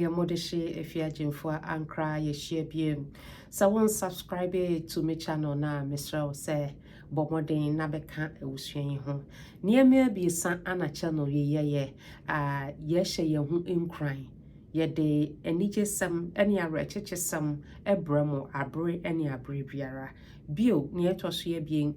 Yɛ mo de hye ɛfi agyinfo a ankra yɛ hyia biem sɛ wo nsubscribe to me channel no a mesrɛ wo sɛ bɔ mmɔden na bɛ ka awusua yi ho nneɛma abiesa ana channel yi yɛ yɛ a yɛ hyɛ yɛ ho nkuran yɛ de anigye sɛm ɛne awerɛkyekye sɛm ɛbrɛ mo abere ɛne abere biara bio nea ɛtɔ so yɛ bien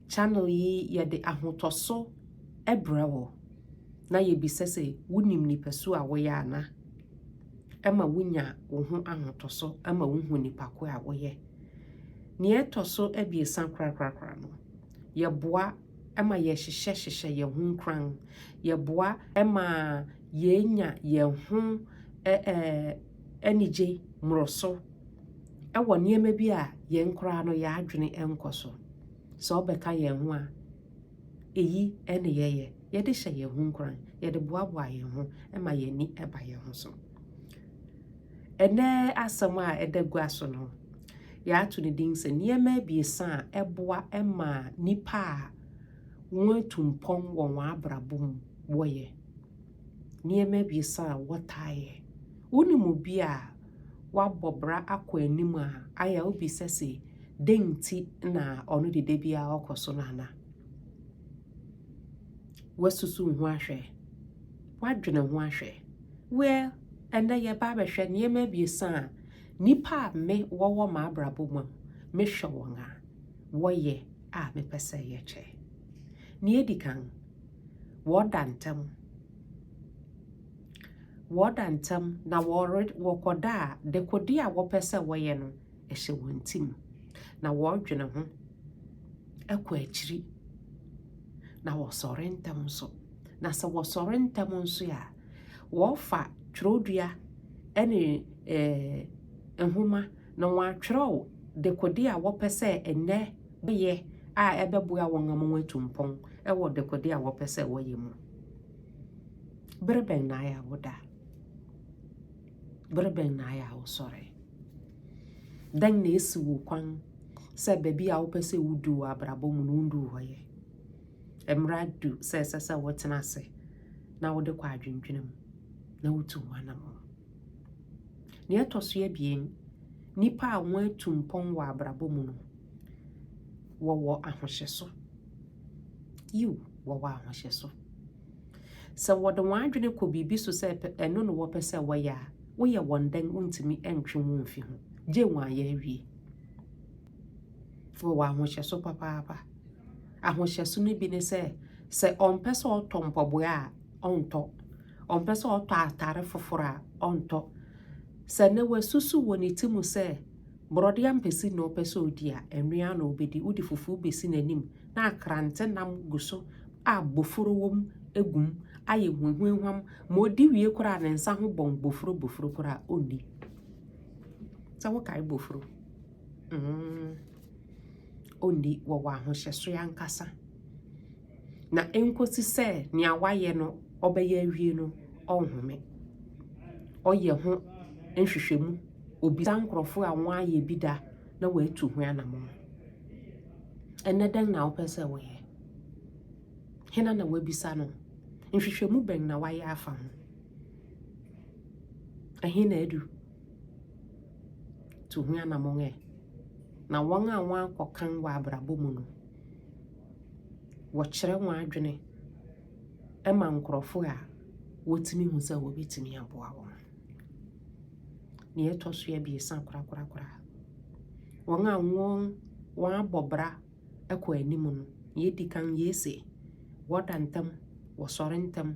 channel yi yɛ de ahotɔ so ɛbrɛ wo na yɛbisa sɛ wonim nipasu a woyɛ ana? Ɛma wonya wo ho ahotɔso ma wohu nipa ko a woyɛ. Nea ɛtɔ so abiɛsa korakorakora no, yɛboa ma yɛhyehyɛ hyehyɛ yɛn ho nkuran. Yɛboa ma yɛnya yɛn ho anigye mmoroso wɔ nneɛma bi a yɛn koraa no yɛn adwene nkɔ so. Sɛ wobɛka yɛn ho a, Eyi ne yɛyɛ, yɛde hyɛ yɛn ho nkuran, yɛde boaboa yɛn ho ma yɛn ani ba yɛn ho so. Ɛnɛ asɛm a ɛda gua so no, yɛato ne din sɛ nneɛma abiɛsa a ɛboa ma nnipa a wɔatu mpɔn wɔ wɔn abrabɔ mu wɔyɛ. nneɛma abiɛsa a wɔtaa yɛ. Wonim obi a wabɔ bra akɔ anim a ayɛ a wobisa se dɛn nti na ɔno de da biara ɔkɔ so no ana? Woasusuw ho ahwɛ? Woadwene ho ahwɛ? Well, ɛnɛ yɛba abɛhwɛ nneɛma abiɛsa a nnipa a me wɔwɔ m'abrabɔ mu a mehwɛ wɔn a wɔyɛ a mepɛ sɛ yɛkyɛ. Nea edi kan, wɔda ntɛm wɔda ntɛm na wɔre wɔkɔda a dekode a wɔpɛ sɛ wɔyɛ no ɛhyɛ wɔn ti mu na wɔredwene ho ɛkɔ akyiri na wɔsɔre ntɛm nso na sɛ wɔsɔre ntɛm nso a wɔfa twerɛdua ɛne ɛɛ eh, nhoma na wɔatwerɛw dekode a wɔpɛ sɛ ɛnɛ bɛyɛ a ɛbɛboa wɔn ama wɔatu mpɔn wɔ dekode a wɔpɛ sɛ wɔyɛ mu. Bere bɛn na ayɛ a woda? Bere bɛn na ayɛ a wosɔre? Dɛn na esi wo kwan sɛ baabi a wopɛ sɛ wudu wɔ abrabɔ mu no wundu hɔ yɛ? Mmara du sɛ ɛsɛ sɛ wotena ase na wode kɔ adwendwene mu na wotu ho anammɔn. Nea ɛtɔ so abien, nnipa a wɔatu mpɔn wɔ abrabɔ mu no, Wɔwɔ ahohyɛso. Yiw, wɔwɔ ahohyɛso. Sɛ wɔde wɔn adwene kɔ biribi so sɛ ɛno na wɔpɛ sɛ wɔyɛ a, woyɛ wɔn dɛn wontumi ntwe wɔn mfi ho, gye wɔn ayɛ awie. Wɔwɔ ahohyɛso papaapa. Ahohyɛso no bi ne sɛ, sɛ ɔmpɛ sɛ ɔtɔ mpɔboa a, ɔntɔ. Ɔmpɛ sɛ ɔtɔ atare foforɔ a, ɔntɔ. Sɛ na wasusu wɔ ne ti mu sɛ Borɔde ampesi na ɔpɛ sɛ ɔdi a, ɛno ara na ɔbɛdi. Wode fufuo bɛsi n'anim na akrante nam gu so a bofuro wɔ mu gu mu ayɛ huahuahuam ma ɔdi wie koraa ne nsa ho bɔn bofuro bofuro koraa ɔnni. Sɛ wokae bofuro, mm, ɔnni. Wɔwɔ ahohyɛsoɛ ankasa. na enkosi sɛ nea wayɛ no ɔbɛyɛ awie no, ɔnhome. Ɔyɛ ho nhwehwɛmu, obisa nkurɔfo a wɔayɛ bi da na wɔatu ho anammɔn. Ɛnnɛ dɛn na wopɛ sɛ woyɛ? Hena na woabisa no? Nhwehwɛmu bɛn na wayɛ afa ho? Ɛhe na adu? Tu ho anammɔn ɛ. Na wɔn a wɔakɔ kan wɔ abrabɔ mu no, wɔkyerɛ wɔn adwene ma nkurɔfoɔ a wɔtumi hu sɛ wɔbɛtumi aboa wɔn. Deɛ ɛtɔ so abiesa korakorakora, wɔn a wɔn wɔabɔ bra kɔ anim no, deɛ ɛdi kan yei se, wɔda ntɛm, wɔsɔre ntɛm,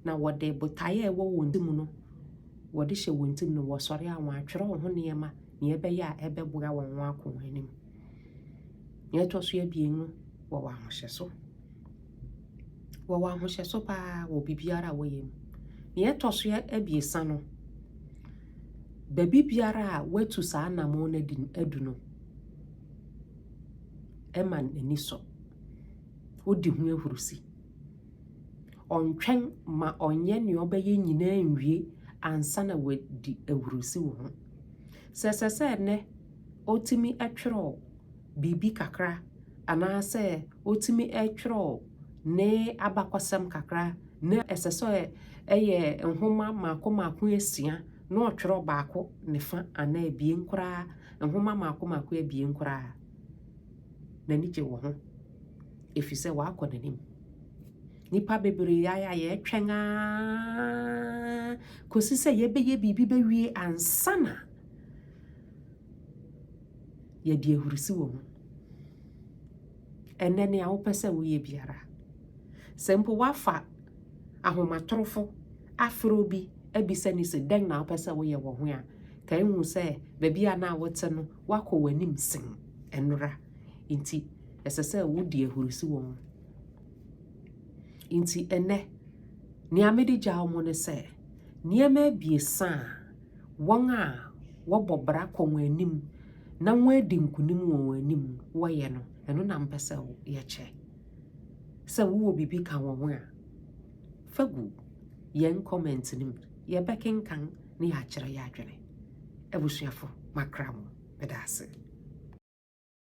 na wɔde botaeɛ a ɛwɔ wɔn ti mu no, wɔde hyɛ wɔn ti mu no, wɔsɔre a wɔatwerɛ wɔn ho nneɛma, deɛ ɛbɛyɛ a ɛbɛboa wɔn wɔn akɔ wɔn anim. Nea ɛtɔ so abien no, wɔwɔ ahohyɛso. Wɔwɔ ahohyɛso paa wɔ biribiara a wɔyɛ mu. Nea ɛtɔ so abiesa no, baabi biara a wɔatu saa anammɔn no adi adu no, ɛma n'ani sɔ. Wodi ho ahurusi. Ɔntwɛn ma ɔnyɛ nea ɔbɛyɛ nyinaa nwie ansa na wadi ahurusi wɔ ho. Sɛ ɛsɛ sɛ nnɛ ɔtumi twerɛ biribi kakra anaasɛ ɔtumi twerɛ ne abakɔsɛm kakra na ɛsɛ sɛ ɛyɛ nwoma mmaako mmaako asia na ɔtwerɛ baako ne fa anaa abien koraa, nwoma mmaako mmaako abien koraa a, n'ani gye wo ho ɛfiri sɛ wakɔ n'anim. Nnipa bebree ayɛ a yɛtwɛn ara kɔsi sɛ yɛbɛyɛ biribi bɛwie ansa na Yɛde ahurusi wɔ mu. Ɛnɛ nea wopɛ sɛ woyɛ biara, sɛ mpo woafa ahomatorofo afrɛ obi abisa no sɛ dɛn na wopɛ sɛ woyɛ wɔ ho a, ka ehu sɛ baabi a na wote no woakɔ w'anim sen ɛnora. Nti ɛsɛ sɛ wodi ahurusi wɔ ho. Nti ɛnɛ nea mede gyaw mo ne sɛ nneɛma abiɛsa a wɔn a wɔbɔ bra kɔ wɔn anim na wɔadi nkonim wɔ wɔn anim wɔyɛ no ɛno na mpɛ sɛ yɛkyɛ sɛ wowɔ biribi ka wɔn ho a fa gu yɛn comment no mu yɛbɛkenkan ne yɛakyerɛ yɛ adwene abusuafo makra mo meda ase